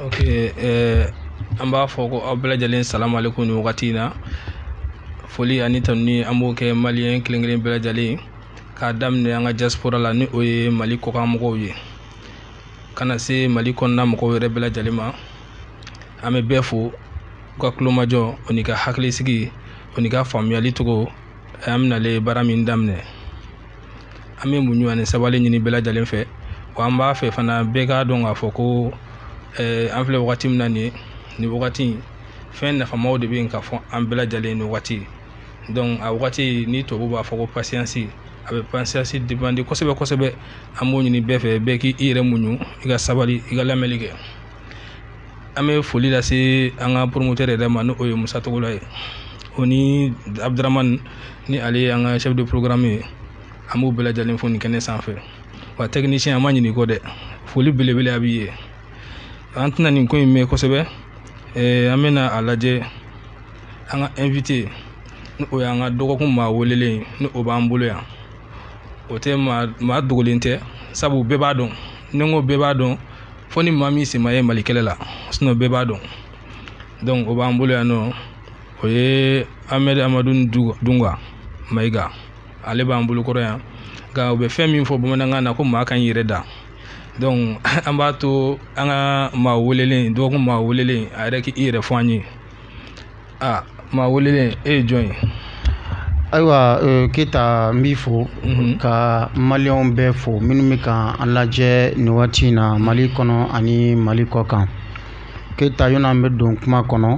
ok eh, an b'a fɔ ko aw bɛɛ lajɛlen salamu alekum nin wagati in na foli ani tanuni an b'o kɛ maliyɛn kelen kelen bɛɛ lajɛlen k'a daminɛ an ka diaspora la ni o ye mali kɔkan mɔgɔw ye ka na se mali kɔnɔna mɔgɔw yɛrɛ bɛɛ lajɛlen ma an bɛ bɛɛ fo u ka kulomajɔ o n'i ka hakilisigi o n'i ka faamuyali cogo an bɛnalen baara min daminɛ an bɛ muɲu ani sabali ɲini bɛɛ lajɛlen fɛ wa an b'a fɛ fana bɛɛ k'a dɔn k'a fɔ ko eh, an filɛ wagati min na nin nin wagati in fɛn nafamaw de bɛ yen ka fɔ an bɛɛ lajɛlen nin wagati donc a wagati ni tubabu b'a fɔ ko patience a bɛ patience depende kosɛbɛ kosɛbɛ an b'o ɲini bɛɛ fɛ bɛɛ k'i yɛrɛ muɲu i ka sabali i ka lamɛnni kɛ an bɛ foli lase an ka poromotɛri yɛrɛ ma n'o ye musa togola ye o ni abuduramani ni ale ye an ka chef de programme ye an b'u bɛɛ lajɛlen fo nin kɛnɛ sanfɛ wa tɛkinisiyɛn an ma ɲinɛ i kɔ dɛ foli belebele a b'i ye an tɛna nin ko in mɛn kosɛbɛ an bɛna a lajɛ an ka invité ni o y'an ka dɔgɔkun maa welelen ni o b'an bolo yan o tɛ maa dogolen tɛ sabu bɛɛ b'a dɔn ni n ko bɛɛ b'a dɔn fo ni maa min sen ma ye mali kɛlɛ la sinon bɛɛ b'a dɔn dɔnku o b'an bolo yan n'o ye amadu amadu ndunga mayiga ale b'an bolokɔrɔ yan nka u bɛ fɛn min fɔ bamanankan na ko maa ka ɲi i yɛrɛ da dɔnku an b'a to an ka maa welelen dɔgɔkun maa welelen a yɛrɛ k' i yɛrɛ fɔ an ye aa maa welelen e ye jɔn ye ayiwa euh, keyita n b'i fo mhm. ka maliyɛnw bɛɛ fo minnu bɛ ka an lajɛ nin waati in na mali kɔnɔ ani mali kɔkan keyita yanni an bɛ don kuma kɔnɔ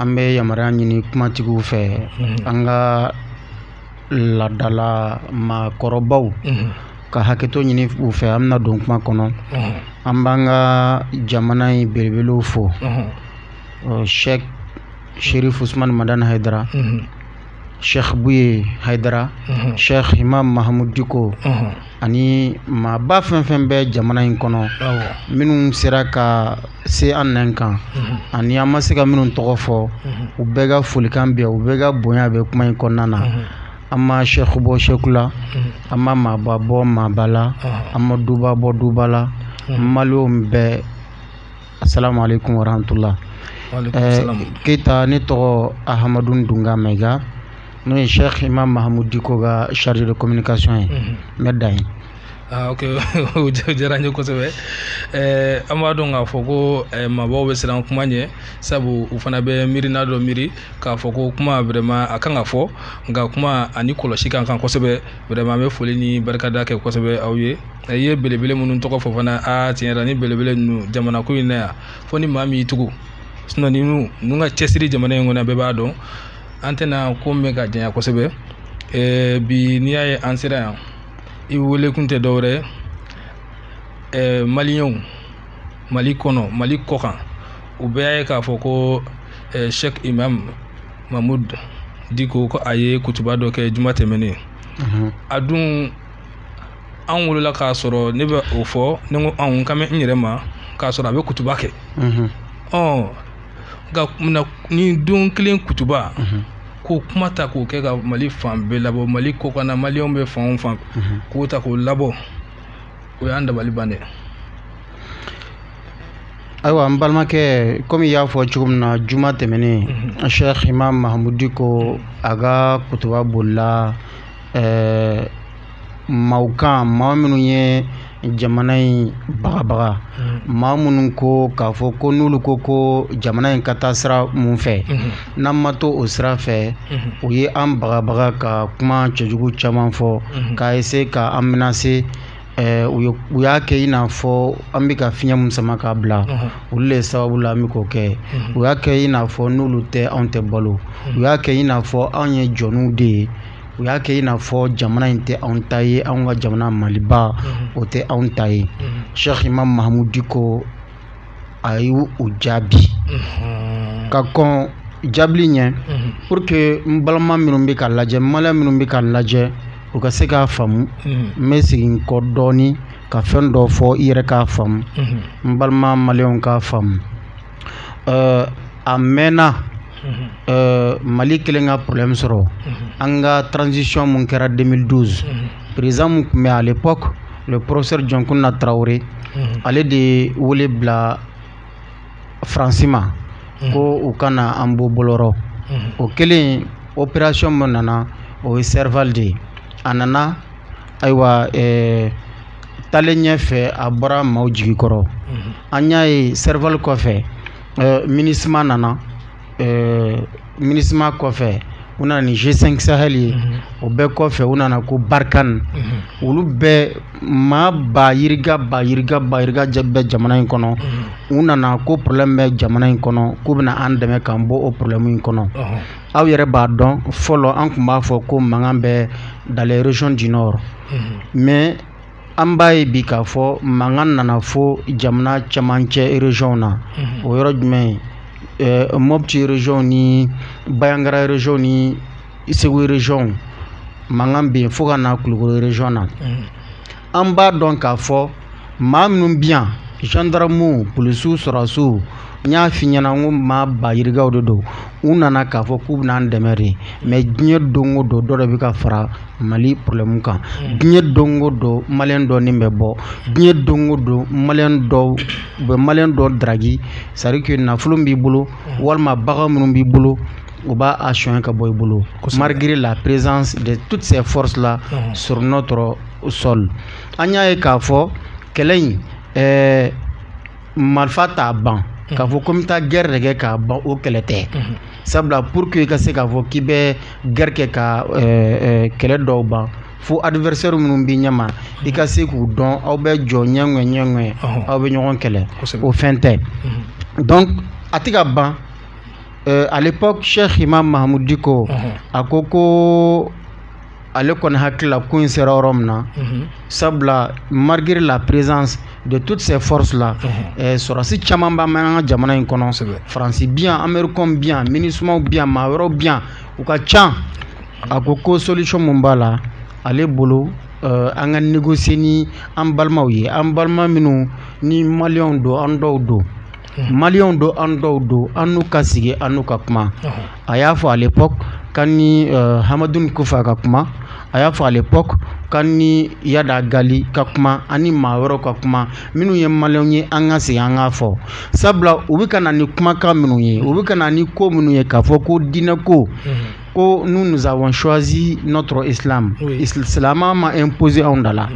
an bɛ yamaruya ɲini kumatigiw fɛ mhm. an ka ladala maakɔrɔbaw mhm. ka hakɛto ɲini u fɛ an bɛna don kuma kɔnɔ an b'an ka jamana in belebelew fo sɛk sherif usman madani haidara sɛk buye haidara sɛk imam mahamud diko ani maaba fɛn fɛn bɛ jamana in kɔnɔ minnu sera ka se an nɛn kan ani an ma se ka minnu tɔgɔ fɔ u bɛɛ ka folikan bɛ yen u bɛɛ ka bonya bɛ kuma in kɔnɔna na an ma sɛk bɔ sɛk la an ma maaba bɔ maaba la an ma duba bɔ duba la maliyɛnw bɛɛ Asalamu alekum warahmatula. Keyita ne tɔgɔ Ahamadu Ndunga Mayiga n'o ye Sɛki Imam Mahamud Diko ka chargé de communication ye n bɛ dan yen. Aa ok o diyara n ye kosɛbɛ ɛɛ an b'a dɔn k'a fɔ ko maabaw bɛ siran kuma ɲɛ sabu u fana bɛ miirina dɔ miiri k'a fɔ ko kuma vraiment a kan ka fɔ nka kuma ani kɔlɔsi ka kan kosɛbɛ vraiment an bɛ foli ni barikada kɛ kosɛbɛ aw ye. i ye belebele minnu tɔgɔ fɔ fana aa tiɲɛ yɛrɛ ni belebele ninnu jamana ko in na yan fo ni maa min y'i tugu sinɔn ni ninnu ka cɛsiri jamana in kɔnɔ bɛɛ b'a dɔn an tɛna kuma ka janya kosɛbɛ ɛɛ bi n'i y'a ye an sera yan i wele kun tɛ dɔwɛrɛ ye ɛɛ maliyɛnw mali kɔnɔ mali kɔkan u bɛɛ y'a ye k'a fɔ ko ɛɛ sɛk imam mahmud diko ko a ye kutuba dɔ kɛ juma tɛmɛnen a dun anw wolola k'a sɔrɔ ne bɛ o fɔ ni n ko anw n kan bɛ n yɛrɛ ma k'a sɔrɔ a bɛ kutuba kɛ ɔ nka munna nin don kelen kutuba k'o kuma ta k'o kɛ ka mali fan bɛɛ labɔ mali kɔkan na maliyɛnw bɛ fan o fan k'o ta k'o labɔ o y'an dabali ban dɛ ayiwa n balimakɛ kɔmi y'a fɔ cogo min na juma tɛmɛnen a sɛk imam mahmud diko a ka kutuba bolila ɛɛ maaw kan maa minnu ye jamana in bagabaga maa minnu ko k'a fɔ ko n'olu ko ko jamana in ka taa sira mun fɛ n'an ma to o sira fɛ u ye an bagabaga ka kuma cɛjugu caman fɔ k'a essayer ka an menacer u ye u y'a kɛ i n'a fɔ an bɛ ka fiɲɛ min sama k'a bila olu de sababu la an bɛ k'o kɛ u y'a kɛ i n'a fɔ n'olu tɛ anw tɛ balo u y'a kɛ i n'a fɔ anw ye jɔnw de ye u y'a kɛ i n'a fɔ jamana in tɛ anw ta ye anw ka jamana maliba o tɛ anw ta ye sɛk imam mahmud diko a y' u jaabi ka kɔn jaabili ɲɛ pour que n balima minnu bɛ k'an lajɛ maliyɛn minnu bɛ k'an lajɛ u ka se k'a faamu n bɛ segin kɔ dɔɔnin ka fɛn dɔ fɔ i yɛrɛ k'a faamu n balima maliyɛnw k'a faamu a mɛnna mali kɛlen ka problème sɔrɔ an ka transition mun kɛra 2012 président mun tun bɛ à l'époque le professeur Dioncounda Traoré ale de ye wele bila faransi ma ko u ka na an bɔ bɔlɔ rɔ o kɛlen opération mun nana o ye serval de ye a nana ayiwa ɛɛ taalen ɲɛ fɛ a bɔra maaw jigi kɔrɔ mhm. an y'a ye serval kɔfɛ euh, minusma nana euh, minusma kɔfɛ u nana ni g5 sahel ye mhm. o bɛɛ kɔfɛ u nana ko barkhane mhm. olu bɛɛ maa ba yirika ba yirika ba yirika bɛ jamana in kɔnɔ u nana ko problème bɛ jamana in kɔnɔ k'u bɛna an dɛmɛ k'an bɔ o problème in kɔnɔ aw yɛrɛ b'a dɔn fɔlɔ an tun b'a fɔ ko mankan bɛ dans les régions du nord mɛ an b'a ye bi k'a fɔ mankan nana fo jamana camancɛ ereziyɔn na o yɔrɔ jumɛn mɔti reziyɔn ni banjagara reziyɔn ni segu reziyɔn mankan bɛ yen fo ka na kulukɔrɔ reziyɔn na an b'a dɔn k'a fɔ maa minnu bi yan zandaramuw polisiw sɔrɔsiw n y'a f'i ɲɛna n ko maa ba yirikaw de don u nana k'a fɔ k'u bɛna an dɛmɛ de mɛ diɲɛ don o don dɔ de bɛ ka fara mali porobilɛmu kan hmm. diɲɛ don o don maliyɛn dɔ nin bɛ bɔ diɲɛ don o don maliyɛn dɔ u bɛ maliyɛn dɔ daraki sarike nafolo b'i bolo hmm. walima bagan minnu b'i bolo u b'a a sonya ka bɔ i bolo malgré la présence de toutes ces forces là hmm. sur notre sol an y'a ye k'a fɔ kɛlɛ in ɛɛ marifa t'a ban k'a fɔ ko n bɛ taa gɛrɛ de kɛ k'a ban o kɛlɛ tɛ sabula pour que i ka se k'a fɔ k'i bɛ gɛrɛ kɛ ka kɛlɛ dɔw ban fo adversaire minnu b'i ɲɛma i ka se k'u dɔn aw bɛ jɔ ɲɛŋɛ ɲɛŋɛ aw bɛ ɲɔgɔn kɛlɛ o fɛn tɛ donc a tɛ ka ban à l'époque Cheikh Imam Mahamoud Dicko a ko ko ale kɔni hakilila ko in sera yɔrɔ min na mhm. sabula malgré la présence de toutes ces forces là mhm. eh, sɔrɔsi caman b'an an ka jamana in kɔnɔ faransi bi yan américain bi yan minusmaw bi yan maa wɛrɛw bi yan u ka can a ko ko solution min b'a la ale bolo eh, an ka négocier ni an balimaw ye an balima minnu ni maliyɛnw don an dɔw don maliyɛnw don an dɔw don an n'u ka sigi an n'u ka kuma a y'a fɔ à l'époque k'an ni Hamadoun Kouffa ka kuma a y'a fɔ à l'époque k'an ni Iyad Ag Ghali ka kuma ani maa wɛrɛw ka kuma minnu ye maliyɛnw ye an ka sigi an ka fɔ sabula u bɛ ka na ni kumakan minnu ye u bɛ ka na ni ko minnu ye k'a fɔ ko diinɛ ko ko nous nous avons choisi notre islam islam ma imposer anw da la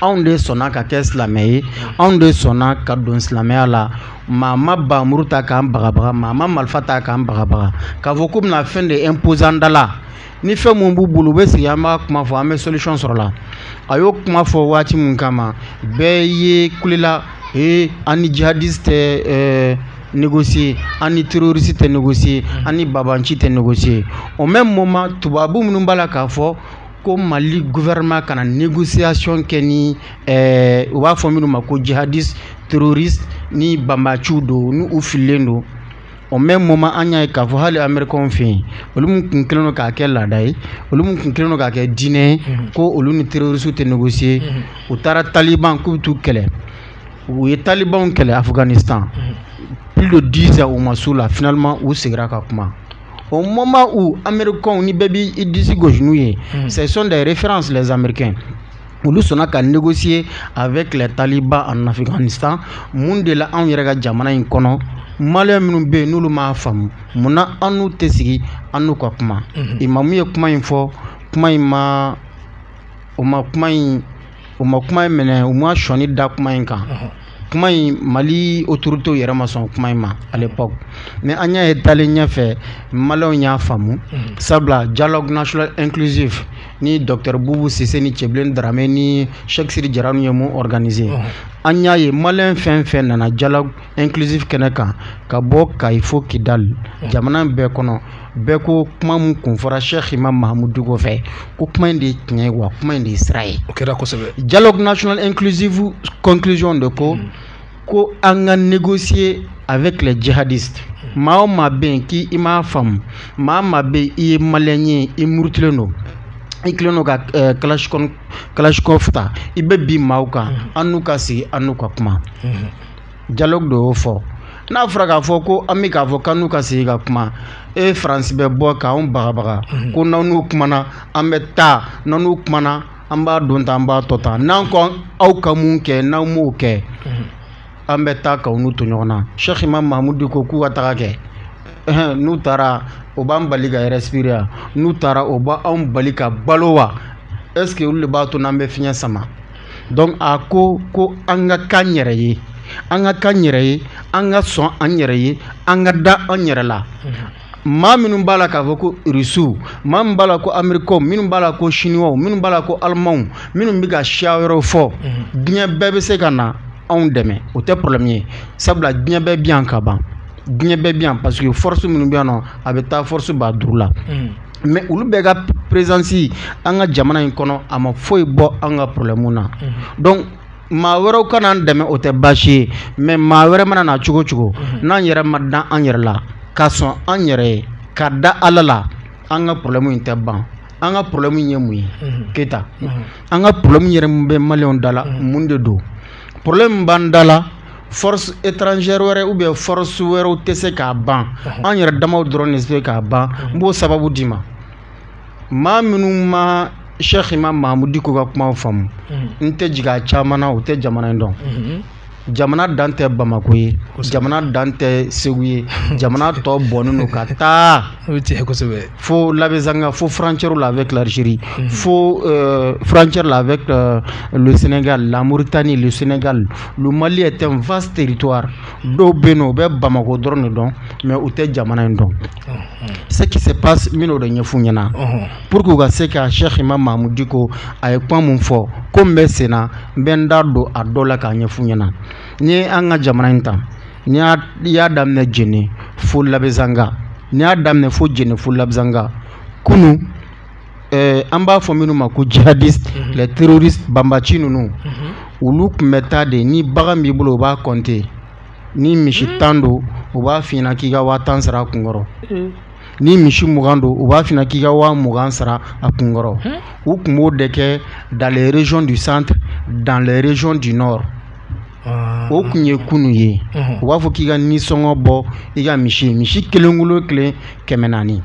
anw de sɔnna ka kɛ silamɛ ye anw de sɔnna ka don silamɛya la maa ma banmuru ta k'an bagabaga maa ma marifa ta k'an bagabaga k'a fɔ k'u bɛna fɛn de imposer an da la ni fɛn mun b'u bolo u bɛ sigi an b'a kuma fɔ an bɛ solution sɔrɔ a la a y'o kuma fɔ waati min kama bɛɛ ye kulela ee an ni jihadiste tɛ ɛɛ négocier an ni terroriste tɛ négocier an ni banbanci tɛ négocier au même moment tubabu minnu b'a la k'a fɔ ko mali gouvernement kana négociation kɛ ni eh, u b'a fɔ minnu ma ko jihadiste terroriste ni banbaciw don ni u fililen don au même moment an y'a ye k'a fɔ hali américain fɛ yen olu min kun kɛlen don k'a kɛ laada ye olu min kun kɛlen don k'a kɛ diinɛ ye mhm. ko olu ni terroriste tɛ négocier mhm. u taara taliban k'u bɛ t'u kɛlɛ u ye talibanw kɛlɛ afghanistan mhm. plus de 10 ans u ma s'u la finalement u segira ka kuma au moment où amerikɛnw ni bɛɛ bɛ i disi gosi n'u ye ce sont des références les américains olu sɔnna ka négocier avec les talibans en Afghanistan mun de la anw yɛrɛ ka jamana in kɔnɔ maliyɛn minnu bɛ yen n'olu m'a faamu munna an n'u tɛ sigi an n'u ka kuma imamu ye kuma in fɔ kuma in ma u ma kuma in u ma kuma in minɛ u ma sɔni da kuma in kan kuma in mali autoritéw yɛrɛ ma sɔn kuma in ma à l'époque mais an y'a ye taalen ɲɛfɛ maliyɛnw y'a faamu mm. sabula dialogue national inclusive ni docteur bubu sise ni cɛbilen darame ni sɛki sidi jara nu ye min organiser mm. an y'a ye maliyɛn fɛn fɛn nana dialogue inclusive kɛnɛ kan ka bɔ kayi fo kidali mm. jamana bɛɛ kɔnɔ bɛɛ ko kuma min kun fɔra sɛki imamu mahamudu diko fɛ ko kuma in de ye tiɲɛ ye wa kuma in de ye sira ye o kɛra kosɛbɛ dialogue national inclusive conclusion de ko mm. ko an ka négocier avec les djihadistes mm. maa o maa bɛ yen k'i i m'a faamu maa maa bɛ yen i ye maliyɛn ye i murutilen don i kelen don ka eh, kalashikɔn kalashikɔf ta i bɛ bin maaw kan mm. an n'u ka sigi an n'u ka kuma dialogue de y'o fɔ n'a fɔra k'a fɔ ko an bɛ k'a fɔ k'an n'u ka sigi ka kuma e faransi bɛ bɔ k'an bagabaga mhm. ko n'an n'u kumana an bɛ taa n'an n'u kumana an b'a don tan an b'a to tan n'an ko aw ka mun kɛ n'aw m'o kɛ mhm. an bɛ taa k'aw n'u to ɲɔgɔn na sɛki imamu mahamudu diko k'u ka taga kɛ n'u taara o b'an bali ka respirer n'u taara o b'anw bali ka balo wa ɛseke olu de b'a to n'an bɛ fiɲɛ sama dɔnku a ko ko an ka k'an yɛrɛ ye an ka k'an yɛrɛ ye an ka sɔn an yɛrɛ ye an ka da an yɛrɛ la maa minnu b'a la k'a fɔ ko rusiw maa min b'a la ko amerikɛnw minnu b'a la ko sinuwaw minnu b'a la ko alimanw minnu bɛ ka siya wɛrɛ fɔ diɲɛ bɛɛ bɛ se ka na anw dɛmɛ o tɛ porobulɛmu ye sabula diɲɛ bɛɛ bi yan ka ban diɲɛ bɛɛ bi yan paseke fɔrɔsi minnu bɛ yan nɔ a bɛ taa fɔrɔsi ba duuru la mɛ olu bɛɛ ka perezansi an ka jamana in kɔnɔ a ma foyi bɔ an ka porobulɛmu na dɔnku maa wɛrɛw ka na an dɛmɛ o tɛ baasi ye mɛ maa wɛrɛ mana na cogo cogo n'an yɛrɛ ma da an yɛrɛ la ka sɔn an yɛrɛ ye ka da ala la an ka porobulɛmu in tɛ ban an ka porobulɛmu ye mun ye keyita an ka porobulɛmu yɛrɛ min bɛ maliyɛnw da la mun de don porobulɛmu b'an da la force étrangère wɛrɛ ou bien force wɛrɛw tɛ se k'a ban an yɛrɛ damaw dɔrɔn de se k'a ban n b'o sababu d'i ma maa minnu ma Cheikh Imam Mahamudu Diko ka kumaw faamu n tɛ jigi a caman na u tɛ jamana in dɔn jamana dan tɛ Bamako ye jamana dan tɛ Segu ye jamana tɔ bɔnnen don ka taa o ye tiɲɛ ye kosɛbɛ fo Labezanga fo frontièrew la avec l'Algérie mhm. fo euh, frontière la avec euh, le Sénégal la Mauritanie le Sénégal le Mali est un vaste territoire dɔw bɛ yen n'u bɛ Bamako dɔrɔn de dɔn mais u tɛ jamana in dɔn mhm. ce qui se passe min y'o de ɲɛf'u ɲɛna mhm. pour que u ka se ka Cheikh Imam Mahmoud Dicko a ye kuma min fɔ ko min bɛ sen na n bɛ n da don a dɔ la k'a ɲɛf'u ɲɛna n'i ye an ka jamana in ta n'i y'a daminɛ Jene fo Labezanga ni y'a daminɛ fo Jene fo Labezanga kunun an b'a fɔ minnu ma ko jihadistes les terroristes banbaanci ninnu olu tun bɛ taa de ni bagan b'i bolo u b'a kɔnte ni misi tan don u b'a fɔ k'i ka waa tan sara a kun kɔrɔ ni misi mugan don u b'a fɔ k'i ka waa mugan sara a kun kɔrɔ u tun b'o de kɛ dans les régions du centre dans les régions du Ah, o tun ye ah, ah. kunun ye u b'a fɔ k'i ka nisɔngɔ bɔ i ka misi misi kelenkolo kelen kɛmɛ naani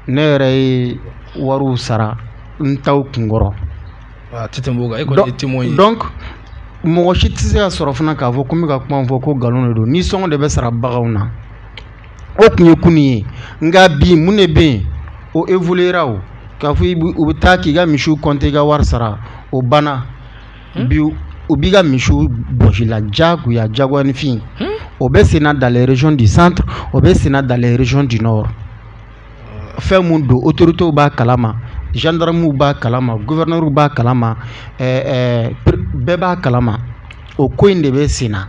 ne yɛrɛ ye wariw sara n taw kunkɔrɔ donc mɔgɔ si tɛ se ka sɔrɔ fana k'a fɔ ko n bɛ ka kuma fɔ ko nkalon de don nisɔngɔ de bɛ sara baganw na o tun ye kunun ye nka bi mun de bɛ yen o evoluyera o k'a fɔ u bɛ taa k'i ka misiw kɔnte i ka wari sara o banna Hmm? Bi u b'i ka misiw bɔs'i la diyagoya diyagoyaninfin, hunn, o bɛ sen na dans les régions du centre o bɛ sen na dans les régions du nord fɛn min don autoritéw b'a kalama, gendarmew b'a kalama, gouverneurw b'a kalama, ɛɛ ɛɛ bɛɛ b'a kalama o ko in de bɛ sen na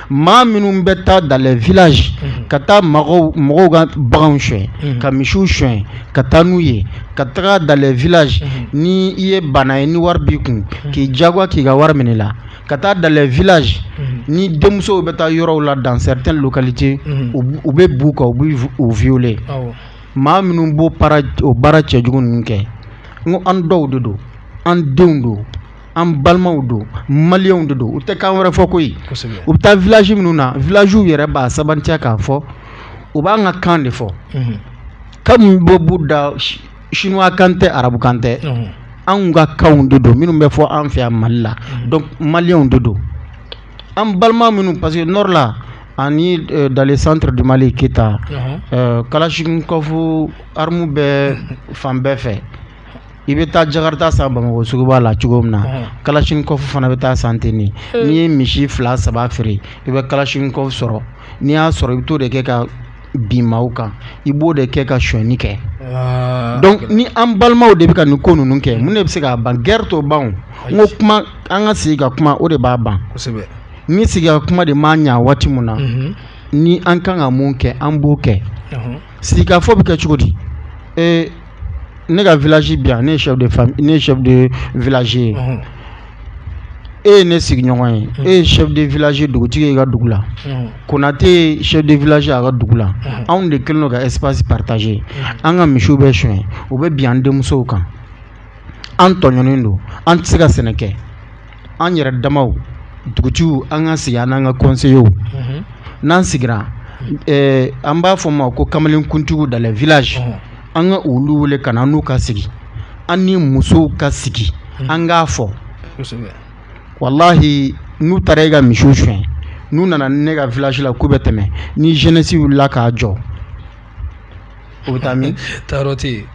maa minnu bɛ taa dans les villages unhun, ka taa mɔgɔw mɔgɔw ka baganw sonya, unhun, ka misiw sonya, ka taa n'u ye, ka taga dans les villages unhun, ni i ye baana ye ni wari b'i kun, k'i diyagoya k'i ka wari minɛ i la, ka taa dans les villages unhun, ni denmusow bɛ taa yɔrɔw la dans certaines localités unhun, u b- u bɛ b'u kan u bɛ vi- u violer awɔ, maa minnu b'o baara o baara cɛjugu ninnu kɛ n ko an dɔw de don an denw don an balimaw don malienw de don u tɛ kan wɛrɛ fɔ ko u bɛ taa village minnu na villagew yɛrɛ b'a sabatiya k'a fɔ u b'an ka kan de fɔ mhm. kan min bɛ b'u da chinois kan tɛ arabu kan tɛ mhm. anw ka kanw de don minnu bɛ fɔ an fɛ yan mali la mhm. donc malienw de don an balima minnu parce que nord la ani euh, dans le centre du Mali Keïta uh -huh. euh, Kalachnikov armew bɛ fan bɛɛ fɛ i bɛ taa jakarita san bamakɔ suguba la cogo min na kalachnikov fana bɛ taa san ten n'i ye misi fila saba feere i bɛ kalachnikov sɔrɔ n'i y'a sɔrɔ i bɛ t'o de kɛ ka bin maaw kan i b'o de kɛ ka sonyani kɛ donc ni an balimaw de bɛ ka nin ko ninnu kɛ mun de bɛ se k'a ban guerre t'o ban n ko kuma an ka sigi ka kuma o de b'a ban ni sigi ka kuma de ma ɲɛ waati min na ni an kan ka mun kɛ an b'o kɛ sigikafɔ bɛ kɛ cogo di ee ne ka village bɛ yan ne ye chef de famille ne ye chef de village ye e ye ne sigiɲɔgɔn ye e ye chef de village dugutigi ye i ka dugu la konate ye chef de village ye a ka dugu la anw de kɛlen don ka espace partager an ka misiw bɛ sonyɛ u bɛ bin an denmusow kan an tɔɲɔnen don an tɛ se ka sɛnɛ kɛ an yɛrɛ damaw dugutigiw an ka sigi an n'an ka kɔnseyew n'an sigira an b'a fɔ ma ko kamalenkuntigiw dans les villages an ka olu wele ka na n'u ka sigi an ni musow ka sigi an k'a fɔ walahi n'u taara e ka misiw suɲɛ n'u nana ne ka village la k'u bɛ tɛmɛ ni jeunesse wulila k'a jɔ u bɛ taa min taayɔrɔ tɛ yen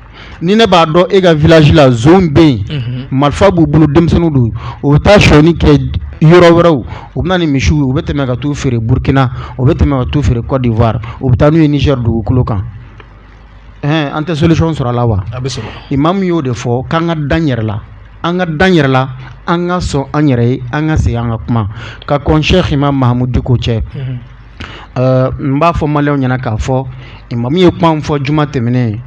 ni ne b'a dɔn e ka village la jeunes bɛ yen mhm. marifa b'u bolo denmisɛnninw don u bɛ taa sonyɛni kɛ yɔrɔ wɛrɛw u bɛ na ni misiw ye u bɛ tɛmɛ ka t'u feere Burkina u bɛ tɛmɛ ka t'u feere Cote d'Ivoire u bɛ taa n'u ye Niger dugukolo kan ɛn an tɛ solution sɔrɔ a la wa a bɛ sɔrɔ Imam y'o de fɔ k'an ka da an yɛrɛ la an ka da an yɛrɛ la an ka sɔn an yɛrɛ ye an ka sigi an ka kuma ka kɔn Cheikh Imam Mahamud Diko cɛ. Mhm. Euh, n b'a fɔ maliyɛnw ɲɛna k'a fɔ imamu ye kuma min fɔ juma tɛmɛnen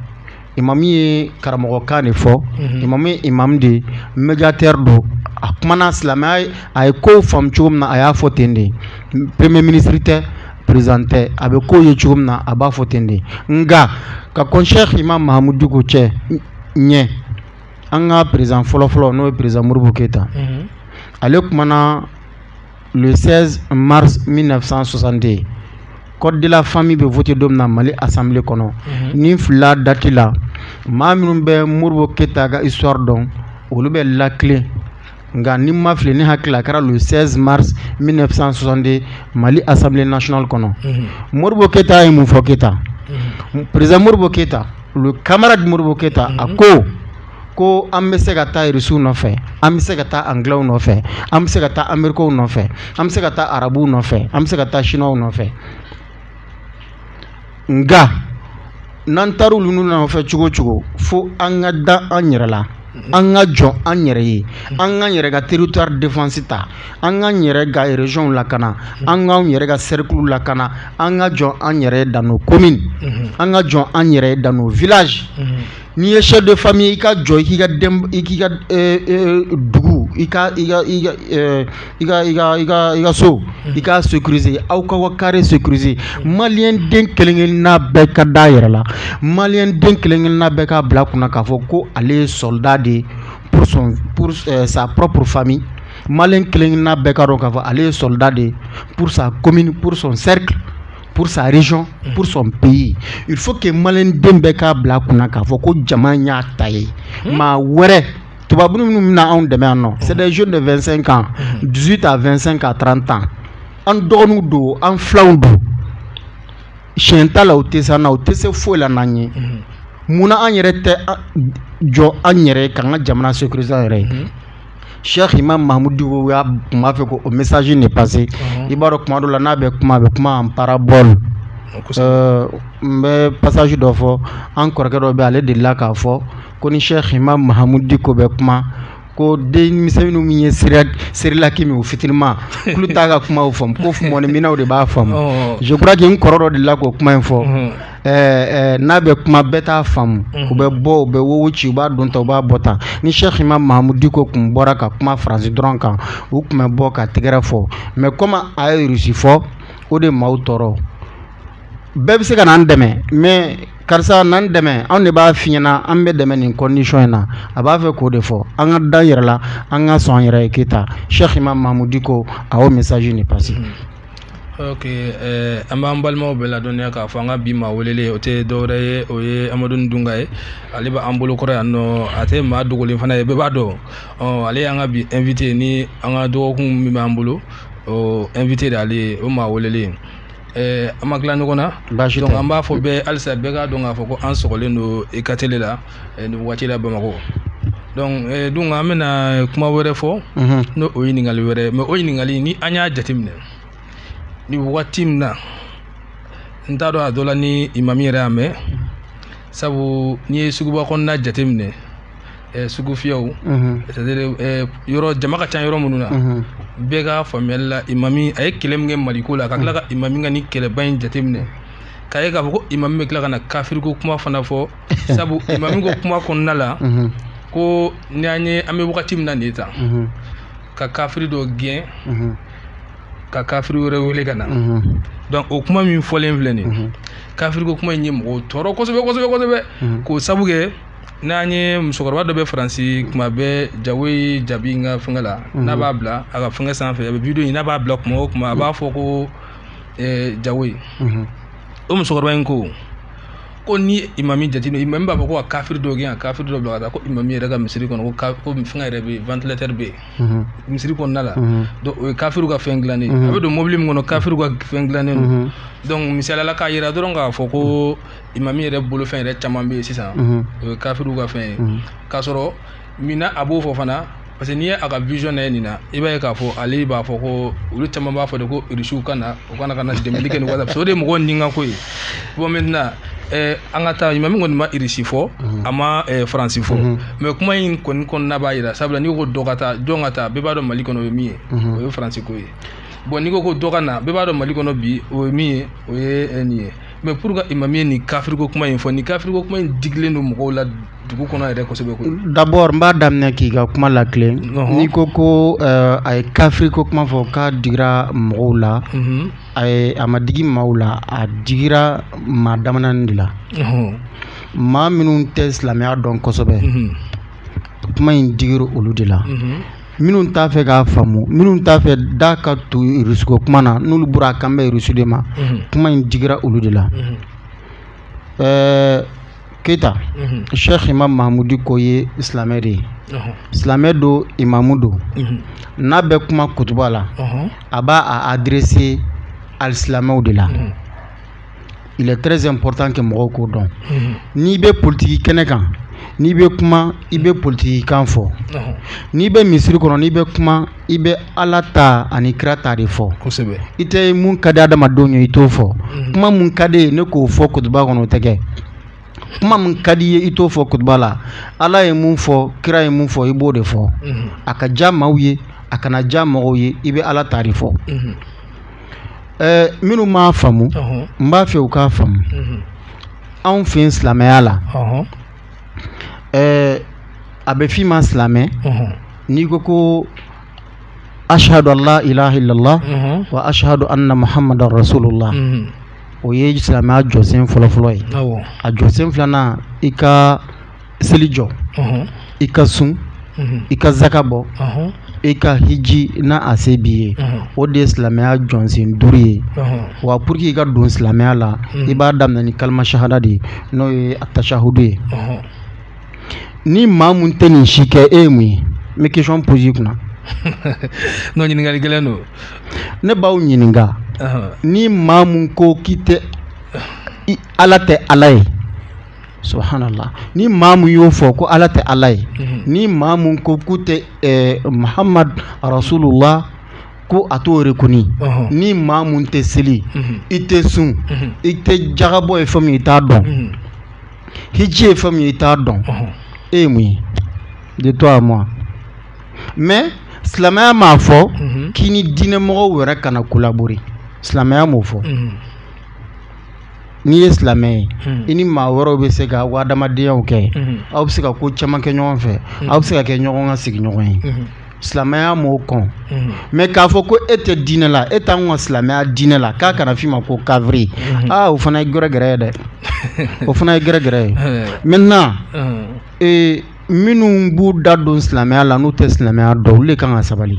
imamu ye karamɔgɔkan de fɔ mhm. imamu ye imamu de ye médiateur don a kumana silamɛya ye a ye kow faamu cogo min na a y'a fɔ ten de premier ministre tɛ président tɛ a bɛ kow ye cogo min na a b'a fɔ ten de nka ka kɔn Cheikh Imam Mahamudu Diko cɛ ɲɛ an ka président fɔlɔfɔlɔ n'o ye président Modibo Keyita mhm. ale kumana le 16 mars 1962 code de la famille bɛ voté don min na Mali assemblée kɔnɔ ni n filila date la maa minnu bɛ Modibo Keyita ka histoire dɔn olu b'a latilen nka ni n ma fili ne hakili la a kɛra le 16 mars 1962 Mali assemblée nationale kɔnɔ Modibo Keyita ye mun fɔ Keyita président Modibo Keyita le camarade Modibo Keyita a ko ko an bɛ se ka taa irisiw nɔfɛ an bɛ se ka taa angilɛw nɔfɛ an bɛ se ka taa amerikɛnw nɔfɛ an bɛ se ka taa arabuw nɔfɛ an bɛ se ka taa siniwaw nɔfɛ nka n'an taara olu nɔfɛ cogo cogo fo an ka da an yɛrɛ la an ka jɔ an yɛrɛ ye an k'an yɛrɛ ka territoire défense ta an k'an yɛrɛ ka région lakana an k'an yɛrɛ ka cercle lakana an ka jɔ an yɛrɛ ye dans nos communes an ka jɔ an yɛrɛ ye dans nos villages n'i ye chef de famille i ka jɔ k'i ka i k'i ka dugu i ka i ka i ka i ka i ka so i k'a sécuriser aw k'aw ka carré sécuriser maliden kelenkelenna bɛɛ ka da a yɛrɛ la maliden kelenkelenna bɛɛ k'a bila a kun na k'a fɔ ko ale ye soldat de ye pour sa propre famille maliyɛn kelenkelenna bɛɛ k'a dɔn k'a fɔ ale ye soldat de ye pour sa commune pour son cercle pour sa région mm. pour son pays il faut que maliden bɛɛ k'a bila kunna k'a fɔ ko jamana y'a ta ye mm. maa wɛrɛ tubabu minnu bɛna anw dɛmɛ yan nɔ mm. c'est des jeunes de 25 ans 18 à 25 à 30 ans an dɔgɔninw don an filanw don tiɲɛ t'a la u tɛ s'an na u tɛ se foyi la n'an ye munna an yɛrɛ tɛ jɔ an yɛrɛ k'an ka jamana sécuriser an yɛrɛ ye Sɛki imamu mahamudu diko a tun b'a fɛ k'o message nin passer i b'a dɔn tuma dɔ la n'a bɛ kuma a bɛ kuma en parabole n bɛ passage dɔ fɔ an kɔrɔkɛ dɔ bɛ ale delila k'a fɔ ko ni sɛki imamu mahamudu diko bɛ kuma ko denmisɛnnin min ye cérélac min u fitinima k'olu t'a ka kuma faamu ko fo mɔniminnaw de b'a faamu je crois que n kɔrɔ dɔ delila k'o kuma in fɔ ɛɛ n'a bɛ kuma bɛɛ t'a faamu u bɛ bɔ u bɛ woyo ci u b'a don tan u b'a bɔ tan ni sɛki imamu mahamudu diko tun bɔra ka kuma faransi dɔrɔn kan u tun bɛ bɔ ka tɛgɛrɛ fɔ mɛ kɔmi a ye rusi fɔ o de maaw tɔɔrɔ bɛɛ bɛ se ka n'an dɛmɛ mɛ karisa n'an dɛmɛ anw de b'a f'i ɲɛna an bɛ dɛmɛ nin kɔndisɔn in na a b'a fɛ k'o de fɔ an ka da yɛrɛ la an ka sɔn yɛrɛ ye keyita sɛki imamu mahamudu diko a y'o message nin passer an b'an balimaw bɛɛ ladɔniya k'a fɔ an ka bi maa welelen o tɛ dɔwɛrɛ ye o ye amadu dunga ye ale bɛ an bolokɔrɔ yan nɔ a tɛ maa dogolen fana ye bɛɛ b'a dɔn ale y'an ka bi invité ni an ka dɔgɔkun min b'an bolo o invité de ale ye o maa welelen an ma tila ɲɔgɔn na donc an b'a fɔ bɛɛ halisa bɛɛ k'a dɔn k'a fɔ ko an sogolen don i ka tele la eh, nin waati la bamakɔ donc eh, dun an bɛna kuma wɛrɛ fɔ mhm. n'o o ye ɲininkali wɛrɛ mɛ o ɲininkali ni an y'a jateminɛ ni waati min na n t'a dɔn a dɔ la ni imami yɛrɛ y'a mɛn sabu n'i ye suguba kɔnɔna jateminɛ eh, sugu fiyɛw mhm. c'est à dire eh, yɔrɔ jama ka ca yɔrɔ minnu na mhm. bɛɛ ka faamuyali la imami a ye kɛlɛ min kɛ maliko la ka tila ka imami ka ni kɛlɛba in jateminɛ k'a ye k'a fɔ ko imami bɛ tila ka na kafiriko kuma fana fɔ sabu imami ko kuma kɔnɔna la ko ni an ye an bɛ wagati min na nin ta ka kafiri dɔ gɛn ka kafiri wɛrɛ wele ka na donc o kuma min fɔlen filɛ nin kafiriko kuma in ye mɔgɔw tɔɔrɔ kosɛbɛ kosɛbɛ kosɛbɛ k'o sabu kɛ n'an ye musokɔrɔba dɔ bɛ faransi tuma bɛɛ jawoyi jabi n ka fɛngɛ la n'a b'a bila a ka fɛngɛ sanfɛ a bɛ video in n'a b'a bila tuma o tuma a b'a fɔ ko jawoyi o musokɔrɔba in ko ko ni imami jateminɛ imami b'a fɔ ko ka kafiri dɔ gɛn ka kafiri dɔ bila ka taa ko imami yɛrɛ ka misiri kɔnɔ ko ka ko fɛn yɛrɛ bɛ yen ventilateur bɛ yen misiri kɔnɔna la donc o ye kafiriw ka fɛn dilannen a bɛ don mobili min kɔnɔ kafiriw ka fɛn dilannen don donc misali la k'a yira dɔrɔn k'a fɔ ko imami yɛrɛ bolo fɛn yɛrɛ caman bɛ yen sisan o ye kafiriw ka fɛn ye k'a sɔrɔ min na a b'o fɔ fana parce que n'i ye a ka vision lajɛ nin na i b'a ye k'a fɔ ale b'a fɔ ko olu caman b'a fɔ de ko irisiw ka na u ka na ka na dɛmɛli kɛ ni wasa o de ye mɔgɔw nikanko ye bon maintenant eh, an ka taa ɲuman min kɔni ma irisi fɔ mhm. a ma eh, faransi fɔ mhm. mais kuma in kɔni kɔnɔna b'a yira sabula n'i ko dɔ ka taa jɔn ka taa bɛɛ b'a dɔn mali kɔnɔ o ye min ye mhm. o ye faransi ko ye bon n'i ko ko dɔ ka na bɛɛ b'a dɔn mali kɔnɔ bi o ye min ye o ye eh, nin ye mais pour i ma min ni kafiriko kuma in fɔ ni kafiriko kuma in digilen don mɔgɔw la dugu kɔnɔ yɛrɛ kosɛbɛ d'abord n b'a daminɛ k'i ka kuma la kelen n'i ko ko eh, a ye kafiriko kuma fɔ k'a digira mɔgɔw la mhm. ayi a ma digi maaw la a digira maa damanin de la maa minnu tɛ silamɛya dɔn kosɛbɛ mhm. kuma in digira olu de la mhm. minnu t'a fɛ k'a faamu minnu t'a fɛ da ka to irisuko kuma na n'olu bɔra a kan bɛ irusu de ma kuma in digira olu de la ɛɛ keyita sɛki imam mahamud diko ye silamɛ de ye silamɛ don imamu don n'a bɛ kuma kutuba la a b'a a adirese alisilamew de la il est très important que mɔgɔw k'o dɔn mhm. n'i bɛ politiki kɛnɛ kan n'i bɛ kuma i bɛ politiki kan fɔ mhm. n'i bɛ misiri kɔnɔ n'i bɛ kuma i bɛ ala ta ani kira ta de fɔ kosɛbɛ i tɛ mun ka di adamadenw ye i t'o fɔ mhm. kuma mun ka di ye ne k'o fɔ kutuba kɔnɔ o tɛ kɛ kuma min ka di i ye i t'o fɔ kutuba la ala ye mun fɔ kira ye mun fɔ i b'o de fɔ a ka diya maaw ye a kana diya mɔgɔw ye i bɛ ala ta de fɔ minnu m'a faamu n b'a fɛ u k'a faamu anw fɛ silamɛya la a bɛ fɔ i ma silamɛ n'i ko ko ashhadu an la ilaha ila llah wa ashhadu anna muhamadan rasulullah o ye silamɛya jɔsen fɔlɔfɔlɔ ye a jɔsen filanan i ka seli jɔ i ka sun i ka zaka bɔ i ka hiji n'a se b'i ye o de ye silamɛya jɔsen duuru ye wa pour que i ka don silamɛya la i b'a daminɛ ni kalima sahada de ye n'o ye a tasahudu ye ni maa min tɛ nin si kɛ e ye mun ye n bɛ question poser kunna n'o ɲininkali gɛlɛn don ne b'aw ɲininka ni maa min ko k'i tɛ ala tɛ ala ye subhanallah ni maa min y'o fɔ ko ala tɛ ala ye ni maa min ko ko tɛ mahamadu rasulullah ko a t'o reconnu ni maa min tɛ seli i tɛ sun i tɛ jakabɔ ye fɛn min i t'a dɔn hiji ye fɛn min ye i t'a dɔn e ye mun ye de toi à moi mais silamɛya m'a fɔ k'i ni diinɛmɔgɔ wɛrɛ kana collaborer silamɛya m'o fɔ n'i ye silamɛ ye hmm. i ni maa wɛrɛw bɛ se ka hadamadenya kɛ hmm. aw bɛ se ka ko caman kɛ ɲɔgɔn fɛ hmm. aw bɛ se ka kɛ ɲɔgɔn ka sigiɲɔgɔn ye silamɛya m'o kɔn mais k'a fɔ ko e tɛ diinɛ la e t'an ka silamɛya diinɛ la k'a kana f'i ma ko kafiri aa o fana ye gɛrɛgɛrɛ ye dɛ o fana ye gɛrɛgɛrɛ ye maintenant ee minnu b'u da don silamɛya la n'u tɛ silamɛya dɔn olu de kan ka sabali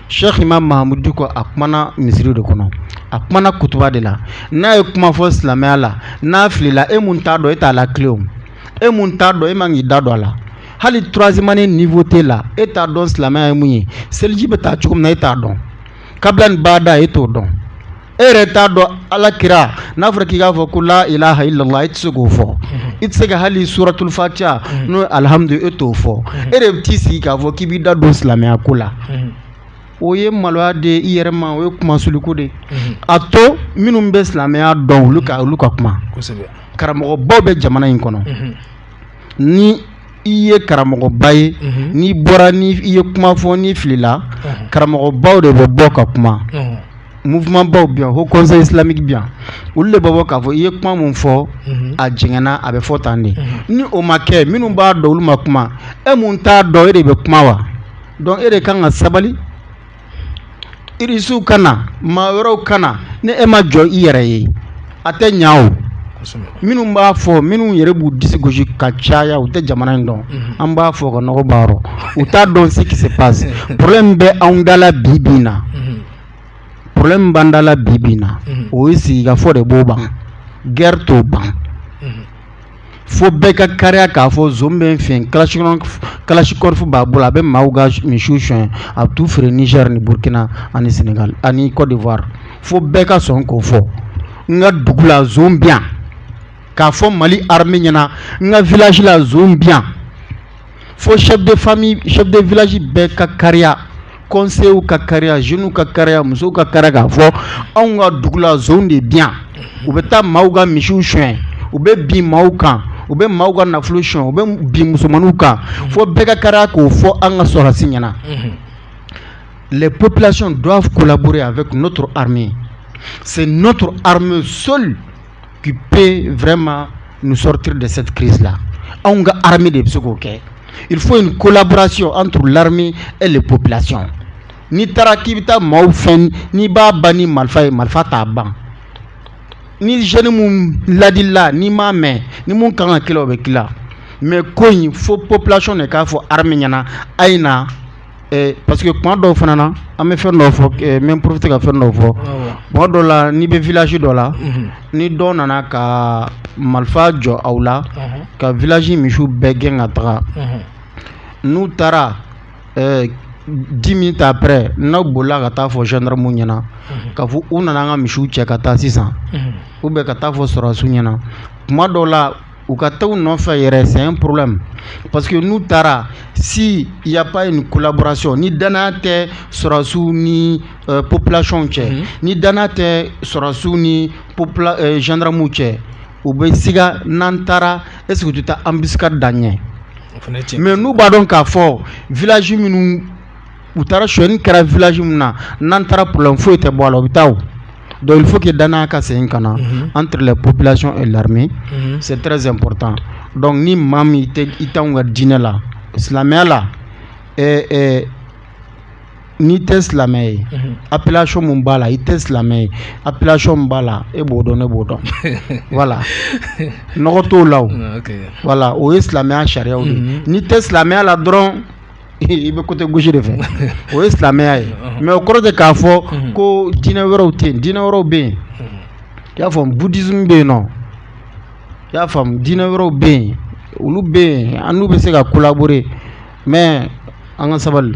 sɛki imamu mahamudu diko a kumana misiri de kɔnɔ a kumana kutuba de la n'a ye kuma fɔ silamɛya la n'a filila e min t'a dɔn e t'a latilen o e min t'a dɔn e man k'i da don a la hali troisième année niveau t'e la e t'a dɔn silamɛya ye mun ye seliji bɛ ta cogo min na e t'a dɔn kabila ni bada e t'o dɔn e yɛrɛ t'a dɔn ala kira n'a fɔra k'i k'a fɔ ko la ilaha illallah e tɛ se k'o fɔ i tɛ se ka hali suratul fatiha n'o alhamdu e t'o fɔ e de bɛ t'i sigi k'a fɔ k'i b'i da don silamɛya ko la o ye maloya de i yɛrɛ ma o ye kunmasuuliko de a to minnu bɛ silamɛya dɔn olu ka olu ka kuma karamɔgɔbaw bɛ jamana in kɔnɔ ni i ye karamɔgɔba ye n'i bɔra n'i ye kuma fɔ n'i filila karamɔgɔbaw de bɛ bɔ ka kuma mouvementbaw bi yan haut conseil islamique bi yan olu de bɛ bɔ k'a fɔ i ye kuma min fɔ a jɛngɛnna a bɛ fɔ tan de ni o ma kɛ minnu b'a dɔn olu ma kuma e min t'a dɔn e de bɛ kuma wa donc e de kan ka sabali irisiw ka na maa wɛrɛw ka na ni e ma jɔ i yɛrɛ ye a tɛ ɲa o minnu b'a fɔ minnu yɛrɛ b'u disi gosi ka caya u tɛ jamana in dɔn an b'a fɔ ka nɔgɔ baarɔ u t'a dɔn ce qui se passe problème min bɛ anw da la bi bi na problème min b'an da la bi bi na o ye sigikafɔ de b'o ban guerre t'o ban fo bɛɛ ka kariya k'a fɔ zon bɛ n fɛ kalasinikɔfu b'a bolo a bɛ maaw ka misiw sonyɛ a bɛ taa feere nizɛri ni burukina ani senegali ani kɔdiwari fo bɛɛ ka sɔn k'o fɔ n ka dugu la zon bi yan k'a fɔ mali armée ɲɛna n ka village la zon bi fo chef de famille chef de village bɛɛ ka kariya conseillers ka kariya jeunes ka kariya musow ka kariya k'a fɔ anw ka dugu la zonw de bi yan u bɛ taa maaw ka misiw sonyɛ u bɛ bin maaw kan u bɛ maaw ka nafolo sonyɛ u bɛ bin musomaninw kan fo bɛɛ ka kariya k'o fɔ an ka sɔrɔdasi ɲɛna mhm. les populations doivent collaborer avec notre armée c'est notre armée seule k'i pe vma sɔrɔti de se ki la anw ka ha de bɛ se k'o kɛ i fɔ in kolabarasi an tu la e de ko bilasi n'i taara k'i bɛ taa maaw fɛn n'i b'a ban ni marifa ye marifa t'a ban ni zanimu ladila ni m'a mɛn ni min ka kan ka ki o bɛ ki mɛ ko in fo pplasiɔn de k'a fɔ ha ɲɛna a ye na Parce que kuma dɔw fana na an bɛ fɛn dɔw fɔ n bɛ profiter ka fɛn dɔw fɔ kuma dɔw la n'i bɛ village dɔ la ni dɔw nana ka marifa jɔ aw la ka village misiw bɛɛ gɛn ka taga n'u taara dix minutes après n'aw bolila ka taa fɔ gendarmew ɲɛna ka fɔ u nana an ka misiw cɛ ka taa sisan u bɛ ka taa fɔ sɔrɔdasiw ɲɛna kuma dɔw la u ka taa u nɔfɛ yɛrɛ c'est un problème parce que n'u taara si il y a pas une collaboration ni danaya tɛ sɔrɔdasiw ni euh, population cɛ mm -hmm. ni danaya tɛ sɔrɔdasiw ni popula euh, gendarmew cɛ u bɛ siga n'an taara est ce que u tɛ taa embuscade da an ɲɛ mais n'u b'a dɔn k'a fɔ village minnu u taara sɔni kɛra village min na n'an taara problème foyi tɛ bɔ a la u bɛ taa o donc il faut que danaya ka segin ka na entre les populations et l'armée c'est très important donc ni maa min i tɛ i t'anw ka diinɛ la silamɛya la ɛɛ ɛɛ n'i tɛ silamɛ ye appellation min b'a la i tɛ silamɛ ye appellation min b'a la e b'o dɔn ne b'o dɔn voilà nɔgɔ t'o la o voilà o ye silamɛya sariyaw de ye n'i tɛ silamɛya la dɔrɔn i bɛ côté gauche de fɛ o ye silamɛya ye mais o kɔrɔ tɛ k'a fɔ ko diinɛ wɛrɛw tɛ yen diinɛ wɛrɛw bɛ yen i y'a faamu bouddhisme bɛ yen nɔ i y'a faamu diinɛ wɛrɛw bɛ yen olu bɛ yen an n'u bɛ se ka collaborer mais an ka sabali.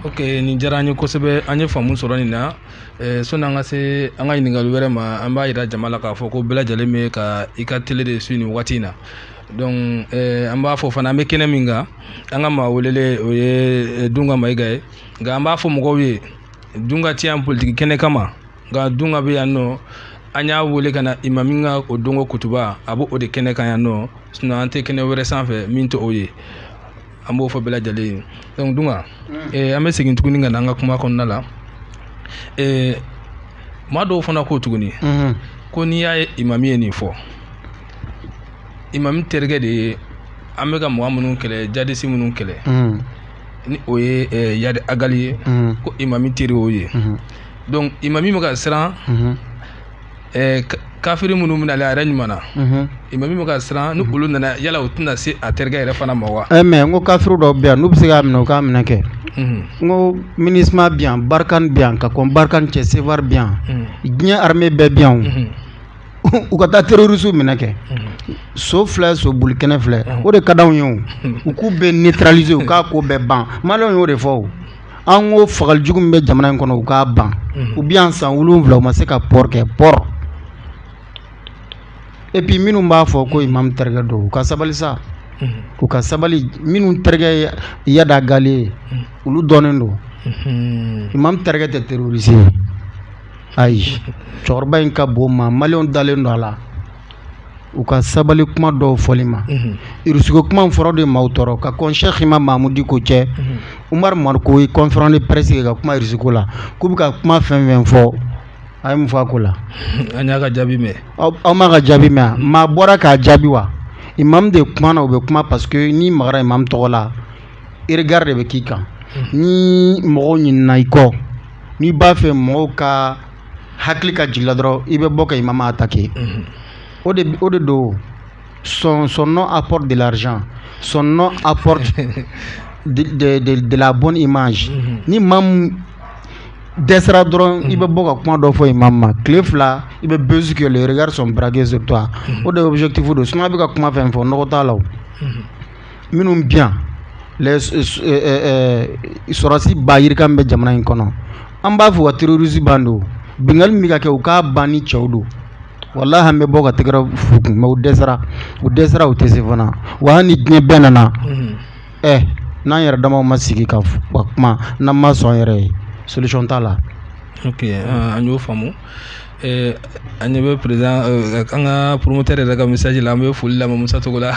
ok nin diyara an ye kosɛbɛ an ye faamu sɔrɔ nin na eh, sɔni an ka se an ka ɲininkali wɛrɛ ma an b'a jira jama la k'a fɔ ko bɛɛ lajɛlen bɛ ka i ka tele de suivre nin wagati in na donc eh, an b'a fɔ fana an bɛ kɛnɛ min kan an ka maa welele o ye eh, dunga mayiga ye nka an b'a fɔ mɔgɔw ye dunga tɛ yan politiki kɛnɛ kama nka dunga bɛ yan nɔ an y'a wele ka na imami ka o donko kutuba a b'o de kɛnɛ kan yan nɔ sinon an tɛ kɛnɛ wɛrɛ sanfɛ min tɛ o ye an b'o fɔ bɛɛ lajɛlen ye donc dunga mm. eh, an bɛ segin tuguni ka na an ka kuma kɔnɔna la eh, maa dɔw fana ko tuguni mm-hmm. ko n'i y'a ye imami ye nin fɔ imami terikɛ de ye an bɛ ka mɔgɔ minnu kɛlɛ jadisi minnu kɛlɛ mm. ni o ye eh, yadi agali ye mm. ko imami teri o ye mm-hmm. donc imami bɛ ka siran mm-hmm. eh, kafiri minnu bɛna ale a yɛrɛ ɲuman na mm-hmm. imami bɛ ka siran ni olu nana yala u tɛna se a terikɛ yɛrɛ fana ma wa eh, mais n ko kafiri dɔw bɛ yan n'u bɛ se k'a minɛ u k'a minɛ kɛ n ko Minusma bɛ yan Barkhane bɛ yan ka kɔn Barkhane cɛ Serval bɛ yan diɲɛ armée bɛɛ bɛ yan o u ka taa terrorisiw minɛ kɛ so filɛ so boli kɛnɛ filɛ o de ka d'anw ye o u k'u bɛɛ neutraliser u k'a ko bɛɛ ban maliyɛnw y'o de fɔ o an ko fagali jugu min bɛ jamana in kɔnɔ u k'a ban u bɛ yan san wolonwula u ma se ka port kɛ port et puis minnu b'a fɔ ko imamu terikɛ don u ka sabali sa u ka sabali minnu terikɛ ye iyad ag ghali ye olu dɔnnen don imamu terikɛ tɛ terroriste ye ayi cɛkɔrɔba in ka bon maa maliyɛnw dalen don a la u ka sabali kuma dɔw fɔli ma irisi ko kuma fɔlɔ de maa tɔɔrɔ ka kɔnɛya k'imam maamudu diko cɛ umaru mariko ye conférence de presse kɛ ka kuma irisi ko la k'u bɛ ka kuma fɛn fɛn fɔ a ye mun fɔ a ko la an y'a ka jaabi mɛn aw m'a ka jaabi mɛn maa bɔra k'a jaabi wa imam de kumana u bɛ kuma paseke n'i magara imam tɔgɔ la regard de bɛ k'i kan ni mɔgɔw ɲinɛna i kɔ n'i b'a fɛ mɔgɔw ka hakili ka jigin i la dɔrɔn i bɛ bɔ ka imam attaquer o de o de don son son nom apporte de l'argent son nom apporte de, de, de, de la bonne image ni maa min dɛsɛra dɔrɔn i bɛ bɔ ka kuma dɔ fɔ imam ma tile fila i bɛ buzz kɛ les regards sont braqués sur toi o de objectif don sinon a bɛ ka kuma fɛn fɛn fɔ nɔgɔ t'a la o minnu bi yan sɔrɔsi b'a yira k'an bɛ jamana in kɔnɔ an b'a fɔ ka terrorisi bandiw binkanni min ka kɛ u k'a ban ni cɛw don walayi an bɛ bɔ ka tɛgɛrɛ f'u kun mɛ u dɛsɛra u dɛsɛra u tɛ se fana wa hali ni diɲɛ bɛɛ nana ɛ n'an yɛrɛ dama ma sigi ka kuma n'an ma sɔn yɛrɛ ye solution t'a la an y'o faamumu Eh, an ɲɛ bɛ perezan eh, an ka poromotɛri yɛrɛ ka message la an bɛ foli la musa cogo la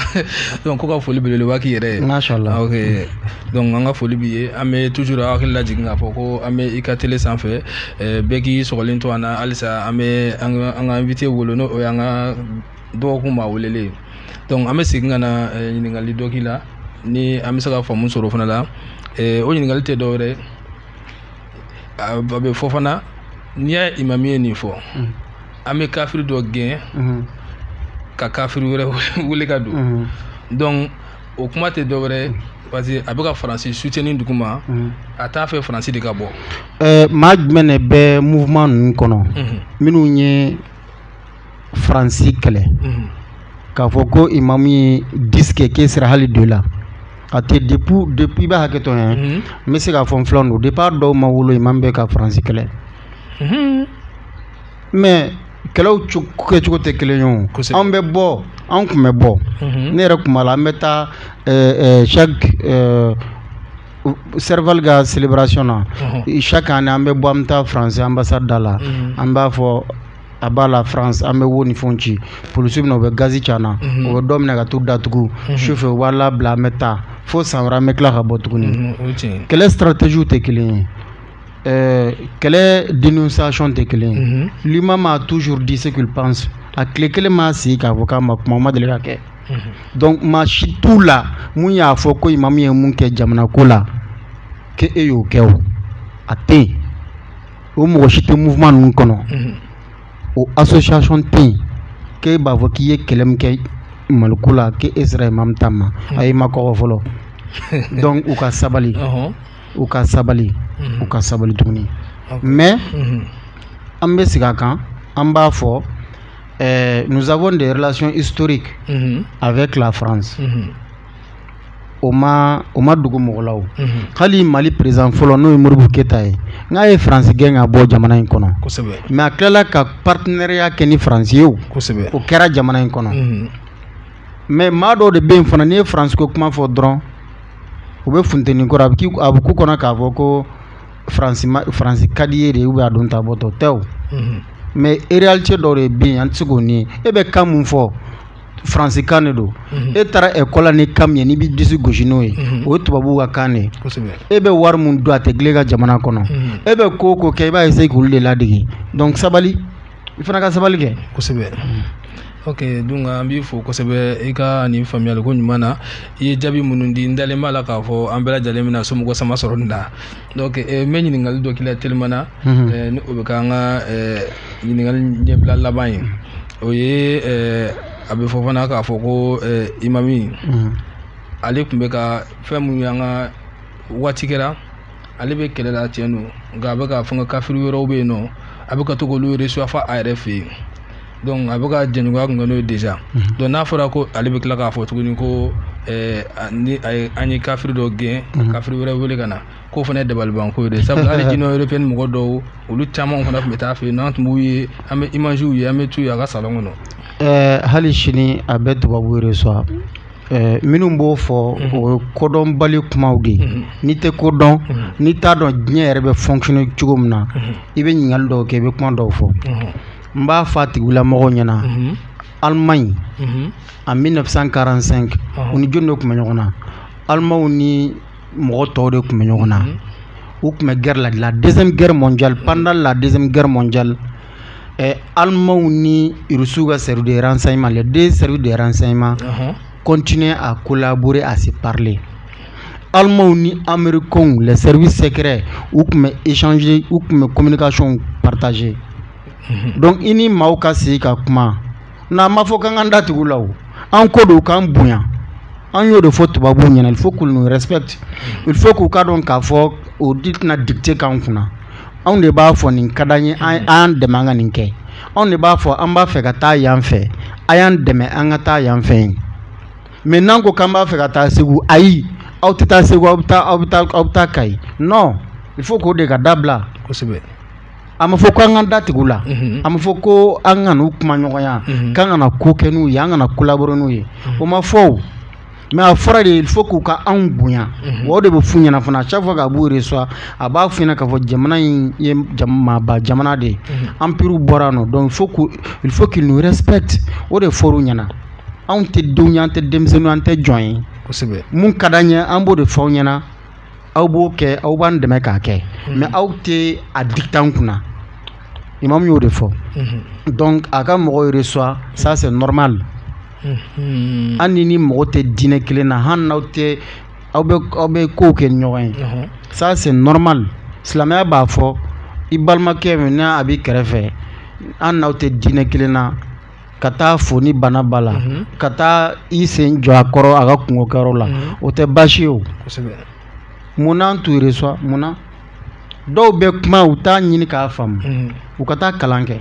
donc ko ka foli belebeleba k'i yɛrɛ ye mashallah ok donc an ka foli b'i ye an bɛ toujours aw hakili lajigin k'a fɔ ko an bɛ i ka tele sanfɛ eh, bɛɛ k'i sɔgɔlen to an na halisa an bɛ an ka invité bolo n'o o y'an ka dɔgɔkun maa welelen ye donc an bɛ segin ka na ɲininkali dɔ k'i la ni an bɛ se ka faamu sɔrɔ o fana la o ɲininkali tɛ dɔwɛrɛ ye a bɛ fɔ fana n'i y'a ye imami ye nin fɔ mm. an bɛ kafiri dɔ gɛn mm-hmm. ka kafiri wɛrɛ wele ka don mm-hmm. donc o kuma tɛ dɔ wɛrɛ mm. parce que a bɛ ka faransi souteni dugu ma mm. a t'a fɛ faransi de ka bɔ euh, maa jumɛn de bɛ mouvement ninnu kɔnɔ mm-hmm. minnu ye faransi kɛlɛ mhm. k'a fɔ ko imamu ye disikɛ ke sira hali do la a tɛ depuis depuis i bɛ hakɛto n ye mhm. n bɛ se k'a fɔ n filan don depuis a dɔw ma wolo imamu bɛ ka faransi kɛlɛ mhm. mɛ kɛlɛw kɛcogo tɛ kelen ye o anw bɛ bɔ anw tun bɛ bɔ ne yɛrɛ tun b'a la an bɛ taa chaque serval ka celebration na chaque année an bɛ bɔ an bɛ taa faransi ambassade da la an b'a fɔ à bas la France an bɛ wo ni fɛnw ci polisiw bɛ na u bɛ gazi ci an na mhm. u bɛ dɔw minɛ ka t'u datugu mhm. sufɛ u b'a labila an bɛ taa fo san wɛrɛ an bɛ tila ka bɔ tuguni mhm, kɛlɛ stratégie tɛ kelen ye euh, kɛlɛ dénonciation tɛ kelen ye l'imam a toujours dit ce qu'il pense a tile kelen m'a sigi k'a fɔ k'a ma kuma o ma deli ka kɛ donc maa si t'u la min y'a fɔ ko imamu ye min kɛ jamana ko la k'e y'o kɛ o a tɛ yen o mɔgɔ si tɛ mouvement ninnu kɔnɔ o association tɛ yen k'e b'a fɔ k'i ye kɛlɛ min kɛ Mali ko la k'e sera Imam ta ma ayi i ma kɔgɔ fɔlɔ donc u ka sabali u ka sabali u ka sabali tuguni mais an bɛ segin a kan an b'a fɔ nous avons des relations historiques avec la France. o ma o ma dogo mɔgɔ la o unhun hali Mali président fɔlɔ n'o ye Modibo Keyita ye n'a ye France gɛn ka bɔ jamana in kɔnɔ kosɛbɛ mais a tilala ka partenariat kɛ ni France ye o kosɛbɛ o kɛra jamana in kɔnɔ unhun mais maa dɔw de bɛ yen fana n'i ye France ko kuma fɔ dɔrɔn u bɛ funteni kɔrɔ a bɛ k'i a bɛ k'u kɔnɔ k'a fɔ ko France ma France ka d'i ye de ou a don ta bɔtɔ tɛ o unhun mais réalité dɔw de bɛ yen an tɛ se k'o nier e bɛ kan min fɔ faransikan de don e taara école la ni kan min ye n'i b'i disi gosi n'o ye o ye tubabu ka kan de e bɛ wari min dun a tɛ dilan e ka jamana kɔnɔ e bɛ ko o ko kɛ i b'a essayer k'olu de ladege donc sabali i fana ka sabali kɛ kosɛbɛ oke donc an b'i fo kosɛbɛ i ka nin faamuyali ko ɲuman na i ye jaabi minnu di n dalen b'a la k'a fɔ an bɛɛ lajɛlen bɛna somɔgɔ sama sɔrɔ nin na donc eh, n bɛ ɲininkali dɔ k'i la telimana mhm. eh, ni o bɛ k'an ka eh, ɲininkali ɲɛbila laban ye o ye a bɛ fɔ fana k'a fɔ ko imami mhm. ale tun bɛ ka fɛn minnu y'an ka waati kɛra ale bɛ kɛlɛ la tiɲɛ don nka a bɛ ka fɛn kafiri wɛrɛw bɛ yen nɔ a bɛ ka to k'olu recevoir a yɛrɛ fɛ yen donc a bɛ ka jɛɲɔgɔnya kun kɛ n'o ye déjà mhm. donc n'a fɔra ko ale bɛ tila k'a fɔ tuguni ko eh, ni a ye an ye kafiri dɔ gɛn ka mhm. kafiri wɛrɛ wele ka na k'o fana ye dabalibanko ye dɛ sabula hali Union européenne mɔgɔ dɔw olu caman fana tun bɛ taa a fɛ yen n'an tun b'u ye an bɛ imagew ye an bɛ t'u ye a ka salon kɔnɔ. Eh, hali sini a bɛ tubabuw recevoir eh, minnu b'o fɔ mhm. o ye kodɔnbali kumaw de ye n'i tɛ ko dɔn n'i t'a dɔn diɲɛ yɛrɛ bɛ fonctionner cogo min na i bɛ ɲininkali dɔw kɛ i bɛ kuma dɔw fɔ. n b'a fa tigilamɔgɔ ɲɛna alima ɲi a bɛ nafin kalanransɛn u ni jɔn de tun bɛ ɲɔgɔn na alimaw ni mɔgɔ tɔw de tun bɛ ɲɔgɔn na u tun bɛ gɛrɛ la dilan de gɛrɛ mɔn ja panda la de gɛrɛ mɔn ja ɛ alimaw nisiww ka sɛ deransan in ma la den sɛ deransan in ma continuer à collaborer à se parler Allemands ni Américains les services secrets u tun bɛ échanger u tun bɛ communication partager mhm. donc i ni maaw ka sigi ka kuma n'an ma fɔ k'an k'an da tugu u la o an ko de u k'an bonya an y'o de fɔ tubabuw ɲɛna il faut qu'ils nous respectent il faut k'u k'a dɔn k'a fɔ olu de tɛna dicter k'an kunna anw de b'a fɔ nin ka d'an ye a y'an dɛmɛ an ka nin kɛ anw de b'a fɔ an b'a fɛ ka taa yan fɛ a y'an dɛmɛ an ka taa yan fɛ mais n'an ko k'an b'a fɛ ka taa segu ayi aw tɛ taa segu aw bɛ taa aw bɛ taa aw bɛ taa kayi non il faut k'o de ka dabila kosɛbɛ a ma fɔ ko an ka da tugu u la mhm. a ma fɔ ko an kan'u kumaɲɔgɔnya mhm. k'an kana ko kɛ n'u ye an kana collaborer n'u ye mhm. o ma fɔ mais a fɔra de il faut k'u ka anw bonya mhm. o de bɛ f'u ɲɛna fana chaque fois k'a b'u reçoit a b'a fɔ k'a fɔ jamana in ye maaba jamana de ye mhm. empirew bɔra nɔ donc il faut qu'ils nous respectent o de fɔr'u ɲɛna anw tɛ denw an tɛ denmisɛnnin an tɛ jɔn ye kosɛbɛ mun ka d'an ye an b'o de f'aw ɲɛna aw b'o kɛ aw b'an dɛmɛ k'a kɛ mhm. mais aw tɛ a dicter an kunna imamu y'o de fɔ donc a ka mɔgɔw reçoit ça c'est normal hali n'i ni mɔgɔ tɛ diinɛ kelen na hali n'aw tɛ aw bɛ aw bɛ ko kɛ ɲɔgɔn ye ça c'est normal silamɛya b'a fɔ i balimakɛ min n'a b'i kɛrɛfɛ hali n'aw tɛ diinɛ kelen na ka taa a fo ni bana b'a la ka taa i sen jɔ a kɔrɔ a ka kunkokɛyɔrɔ la o tɛ baasi ye o mun n'an t'u reçoit mun na dɔw bɛ kuma u t'a ɲini k'a faamu u ka taa kalan kɛ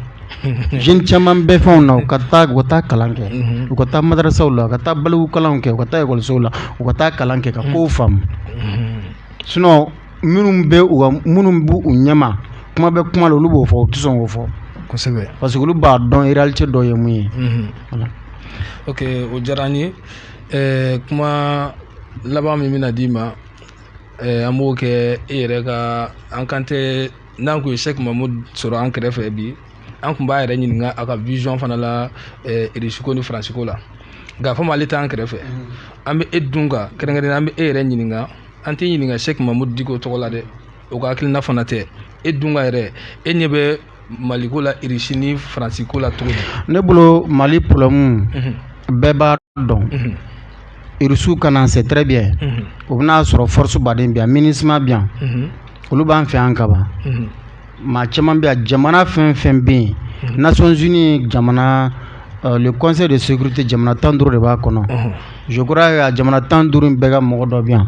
jeune caman bɛ fɛnw na u ka taa u ka taa kalan kɛ u ka taa madarasaw la u ka taa balikukalan kɛ u ka taa ekɔlisow la u ka taa kalan kɛ ka ko faamu sinon minnu bɛ minnu b'u ɲɛma kuma bɛ kuma olu b'o fɔ u tɛ sɔn k'o fɔ kosɛbɛ parce que olu b'a dɔn réalité dɔ ye mun ye o o diyara n ye kuma laban min bɛna na d'i ma an b'o kɛ e yɛrɛ ka an kan tɛ n'an kun ye Cheick Mahmoud sɔrɔ an kɛrɛfɛ bi an kun b'a yɛrɛ ɲininka a ka vision fana la irisiko ni faransiko la nka komi ale t'an kɛrɛfɛ an bɛ e dun kan kɛrɛnkɛrɛn an bɛ e yɛrɛ ɲininka an tɛ ɲininka Cheick Mahmoud Dicko tɔgɔ la dɛ o ka hakilina fana tɛ e dun ka yɛrɛ e ɲɛ bɛ Mali ko la irisi ni faransi ko la tuguni ne bolo mali problème bɛɛ b'a dɔn irisiw ka na c'est très bien o bɛn'a sɔrɔ force Barkhane bi yan Minusma bi yan olu b'an fɛ yan kaban maa caman bɛ yan jamana fɛn o fɛn bɛ yen Nations unies jamana conseil de sécurité jamana tan duuru de b'a kɔnɔ je crois jamana tan duuru bɛɛ ka mɔgɔ dɔ bi yan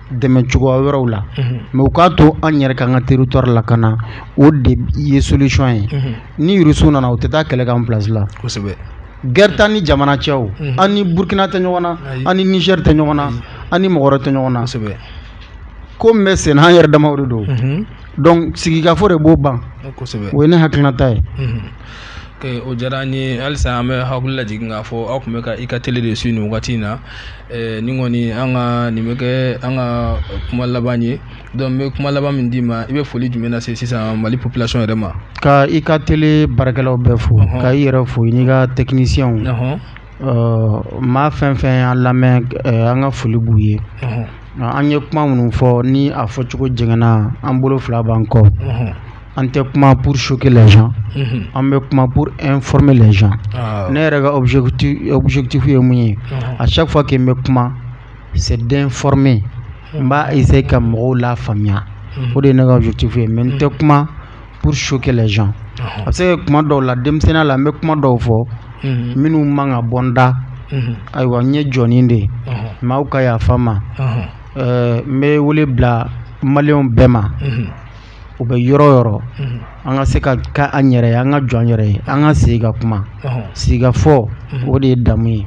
dɛmɛ cogoya wɛrɛw la mais u k'a to an yɛrɛ ka an ka territoire lakana o de ye solution ye ni irisiw nana u tɛ taa kɛlɛ k'an place la kosɛbɛ gɛrɛ t'an ni jamana cɛ an ni burukina tɛ ɲɔgɔn na an ni nizɛri tɛ ɲɔgɔn na an ni mɔgɔ tɛ ɲɔgɔn na kosɛbɛ ko bɛ senna an yɛrɛ dama de don donc sigikafɔ de b'o ban kosɛbɛ o ye ne hakilinata ye o diyara an ye halisa an bɛ hakili lajigin k'a fɔ aw tun bɛ ka i ka tele de su nin wagati in na Eh, ni kɔni an ka nin bɛ kɛ an ka kuma laban ye donc n bɛ kuma laban min d'i ma i bɛ foli jumɛn lase sisan mali population yɛrɛ ma ka i ka tele baarakɛlaw bɛɛ fo ka i yɛrɛ fo i n'i ka techniciens maa fɛn fɛn y'an lamɛn eh, an ka foli b'u ye an ye kuma minnu fɔ ni a fɔcogo jɛngɛnna an bolo fila b'an kɔ an tɛ kuma pour choquer les gens unhun, an bɛ kuma pour informer les gens aa, ne yɛrɛ ka objectif objectif ye mun ye ɔhɔ, à chaque fois que n bɛ kuma c'est d'informer n b'a essayer ka mɔgɔw lafaamuya unhun, o de ye ne ka objectif ye mais n tɛ kuma pour choquer les gens a ɔhɔ, bɛ se ka kɛ kuma dɔw la denmisɛnninya la n bɛ kuma dɔw fɔ unhun, minnu man ka bɔ n da unhun, ayiwa n ye jɔnnin de ye ɔhɔ, mais aw ka yafa n ma ɔhɔ, ɛɛ n bɛ wele bila maliyɛnw bɛɛ ma unhun, u bɛ yɔrɔ yɔrɔ an ka se ka ka an yɛrɛ ye an ka jɔ an yɛrɛ ye an ka sigi ka kuma sigikafɔ o de ye damu ye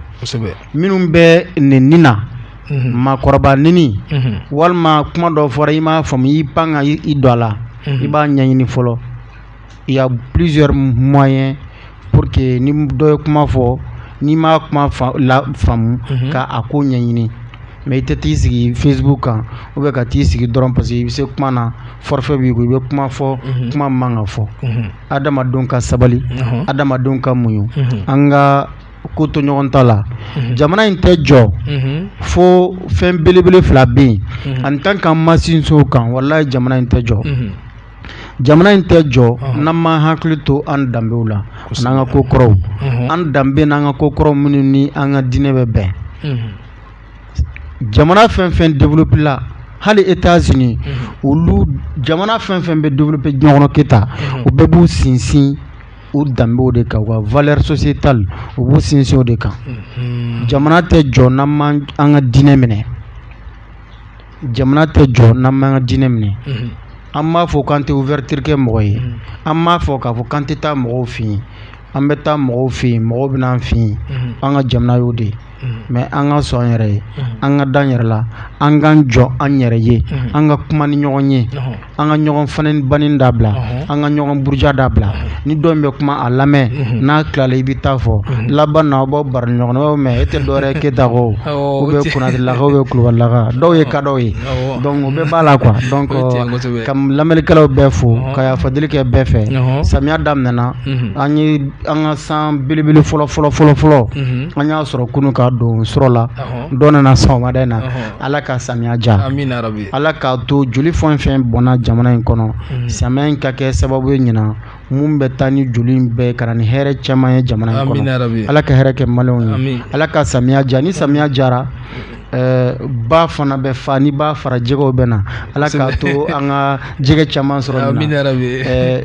minnu bɛ nin ni na makɔrɔba ni walima kuma dɔ fɔra i m'a faamumu i pan ka i don a la i b'a ɲɛɲini fɔlɔ il y a plusieurs moyens pour que ni dɔ ye kuma fɔ n'i m'a kuma lafaamu mhm. ka a ko ɲɛɲini mais i tɛ t'i sigi facebook kan ou bien ka t'i sigi dɔrɔn parce que i bɛ se kuma na forfait b'i kun i bɛ kuma fɔ mhm. kuma man ka fɔ mhm. adamadenw ka sabali adamadenw ka muɲu an ka ko to ɲɔgɔn ta la jamana in tɛ jɔ fo fɛn belebele fila bɛ yen en tant qu'an ma sinsin o kan walayi jamana in tɛ jɔ. jamana in tɛ jɔ n'an m'an hakili to an danbew la n'an ka ko kɔrɔw an danbe n'an ka ko kɔrɔw minnu ni an ka diinɛ bɛ bɛn jamana fɛn fɛn développé la hali Etats Unis olu jamana fɛn fɛn bɛ développé diɲɛ kɔnɔ Keyita u bɛɛ b'u sinsin u danbew de kan u ka valeur sociétale u b'u sinsin o de kan jamana tɛ jɔ n'an ma an ka diinɛ minɛ. jamana tɛ jɔ n'an m'an ka diinɛ minɛ, unhun, an m'a fɔ k'an tɛ ouverture kɛ mɔgɔ ye, unhun, an m'a fɔ k'a fɔ k'an tɛ taa mɔgɔw fɛ yen, an bɛ taa mɔgɔw fɛ yen mɔgɔw bɛ na an fɛ yen, unhun, an ka jamana y'o de ye, unhun, mais an ka sɔn an yɛrɛ ye, unhun, an ka d'an yɛrɛ la, an k'an jɔ an yɛrɛ ye, unhun, an ka kuma ni ɲɔgɔn ye, ɔnhɔn. an ka ɲɔgɔn fa ni ba nɛni dabila an ka ɲɔgɔn buruja dabila ni dɔ bɛ kuma a lamɛn n'a tilala i b'i ta fɔ laban na aw baw bara ɲɔgɔn mɛn e tɛ dɔwɛrɛ keyita o bɛ kunnarilakaw bɛ kulubalilaka dɔw ye kada ye donc o bɛɛ b'a la ka dɔn ka lamɛnnikɛlaw bɛɛ fo ka yafa deli kɛ bɛɛ fɛ samiya daminɛna an ye an ka san belebele fɔlɔ fɔlɔ fɔlɔfɔlɔ an y'a sɔrɔ kunun ka don su la dɔ nana sɔgɔmada in na Ala ka samiya diya amina yarabi Ala k'a to joli fɛn o fɛn bɔnna jamana in kɔnɔ unhun samiya in ka kɛ sababu ye ɲinan min bɛ taa ni joli in bɛɛ ye ka na ni hɛrɛ caman ye jamana in kɔnɔ amina yarabi Ala ka hɛrɛ kɛ maliyɛnw ye amin Ala ka samiya diya ni samiya diyara ɛɛ ba fana bɛ fa ni ba fara jɛgɛw bɛ na Ala k'a to an ka jɛgɛ caman sɔrɔ ɲinan amina yarabi ɛɛ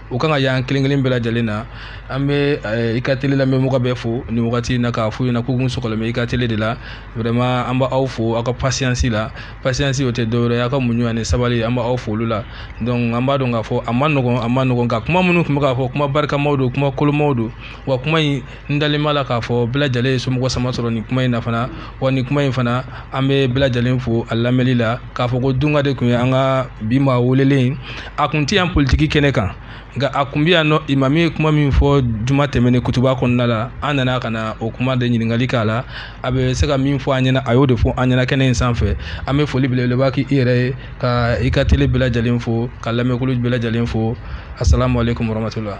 o kan ka y'an kelen kelen bɛɛ lajɛlen na an bɛ eh, i ka tele la an bɛ mɔgɔ bɛɛ fo nin wagati in na k'a f'u ɲɛna k'u kun sɔgɔlen bɛ i ka tele de la vraiment an b'aw fo aw ka pasiyansi la pasiyansi o tɛ dɔwɛrɛ ye aw ka muɲu ani sabali an b'aw fo olu la donc an b'a dɔn k'a fɔ a man nɔgɔn a man nɔgɔn nka kuma minnu tun bɛ ka fɔ kuma barikamaw don kuma kolomaw don wa kuma in n dalen b'a la k'a fɔ bɛɛ lajɛlen ye somɔgɔ sama sɔrɔ nin kuma in na fana wa nin kuma in fana an bɛ bɛɛ lajɛlen fo a lamɛnli la k'a fɔ ko dunka de tun ye an ka bi maa welelen a tun tɛ yan politiki kɛnɛ kan nka a tun bɛ yan nɔ imami ye kuma min fɔ juma tɛmɛnen kutuba kɔnɔna la an nana ka na o kuma de ɲininkali k'a la a bɛ se ka min fɔ an ɲɛna a y'o de fɔ an ɲɛna kɛnɛ in sanfɛ an bɛ foli belebeleba k'i yɛrɛ ye ka i ka tele bɛɛ lajɛlen fo ka lamɛnkulu bɛɛ lajɛlen fo asalaamaaleykum warahmatulahi